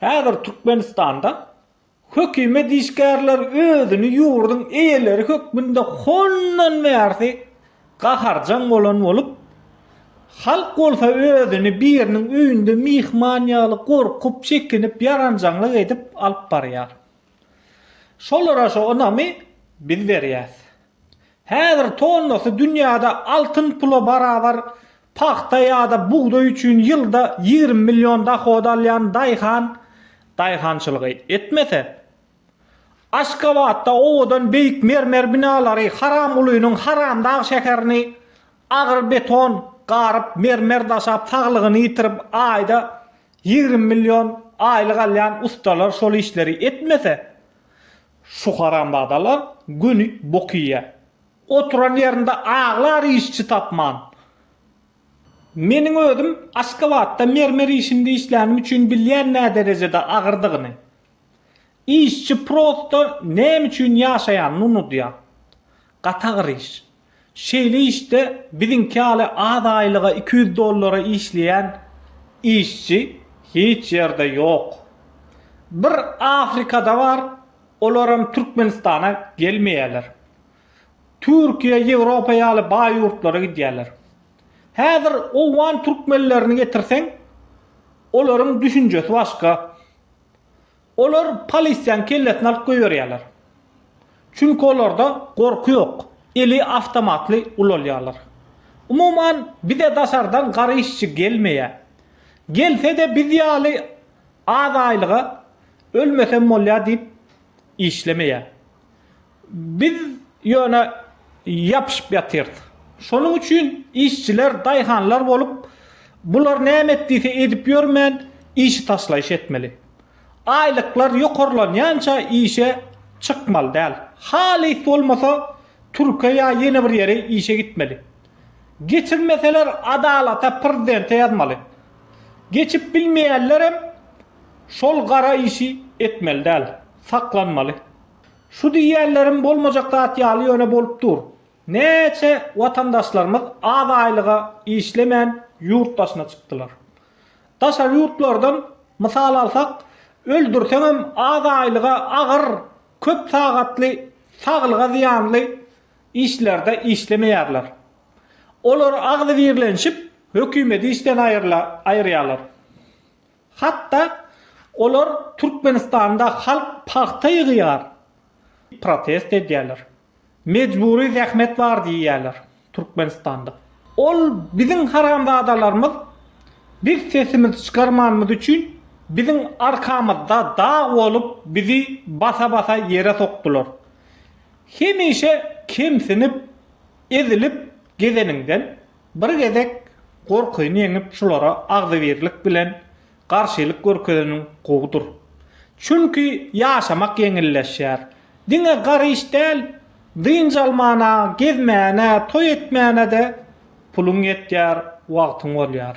Häzir Türkmenistanda hökümet işgärleri özüni ýurduň eýeleri hökmünde hondan bärsi gaharjaň bolan bolup, halk bolsa özüni biriniň öýünde myhman ýaly gorkup, çekinip, ýaranjaňlyk edip alyp barýar. Şolara şu ynamy biz berýäs. Häzir tonnasy dünýäde altyn pula barabar pagta ýa-da bugdaý üçin ýylda ýigrimi million dohod alýan daýhan daýhançylygy etmese, Aşgabatda owadan beýik mermer binalary Haramgulynyň Haramdag şäherini agyr beton garyp, mermer daşap saglygyny ýitirip aýda ýigrimi million aýlyk alýan ussalar şol işleri etmese, Şu haramzadalar göni bok iýýä. Oturan ýerinde aglar işçi tapman. Meniň özüm Aşgabatda mermer işinde işlänim üçin bilýän näderejede agyrdygyny. Işçi prosto näme üçin ýaşaýanyny unudýar. Gaty agyr iş. Şeýle işde biziňki ýaly az aýlyga iki ýüz dollara işleýän işçi hiç ýerde ýok. Bir Afrikada bar, olaram Türkmenistana gelmeýärler. Türkiýe, Ýewropa ýaly baý ýurtlara gidýärler. Häzir owgan türkmenlerini getirseň, olaryň düşünjesi başga. Olar polisiýanyň kellesini alyp goýberýärler. Çünki olarda gorky ýok, eli awtomatly ulalýarlar. Umuman, bize daşardan gara işçi gelmeýär. Gelse-de biz ýaly az aýlyga ölmesem bolýar diýip işlemeýär. Biz ýöne ýapyşyp ýatyrys. Şonuň üçin işçiler daýhanlar bolup, bular näme et diýse edip ýörmän, işi taşlaýyş etmeli. Aýlyklar ýokarlanýança işe çykmaly däl. Halys bolmasa Türke ýa ýene bir ýere işe gitmeli. Geçirmeseler adalata prezidente ýazmaly. Geçip bilmeýänlerem şol gara işi etmeli däl. Saklanmaly. Şu diýýänlerim bolmajak zat ýaly ýöne bolup dur. Näçe watandaşlarymyz az aýlyga işlemän ýurt daşyna çykdylar. Daşary ýurtlardan mysal alsak, öldürseňem az aýlyga agyr, köp sagatly, saglyga zyýanly işlerde işlemeýärler. Olar agzybirlenişip hökümeti işden aýyrýarlar. Hatda olar Türkmenistanda halk pagta ýygýar diýip protest edýärler. Mejbury zähmet bar diýýärler Türkmenistanda. Ol biziň haramzadalarymyz, biz sesimizi çykarmanymyz üçin biziň arkamyzda dag bolup bizi basa-basa ýere sokdular. Hemişe kemsinip, ezilip gezeniňden Bir gezek gorkyny ýeňip şulara agzybirlik bilen garşylyk görkezeniň gowudyr. Çünki ýaşamak ýeňilleşýär. Diňe gar iş däl, dynç almana, gezmäne, toý etmäne-de puluň ýetýär, wagtyň bolýar.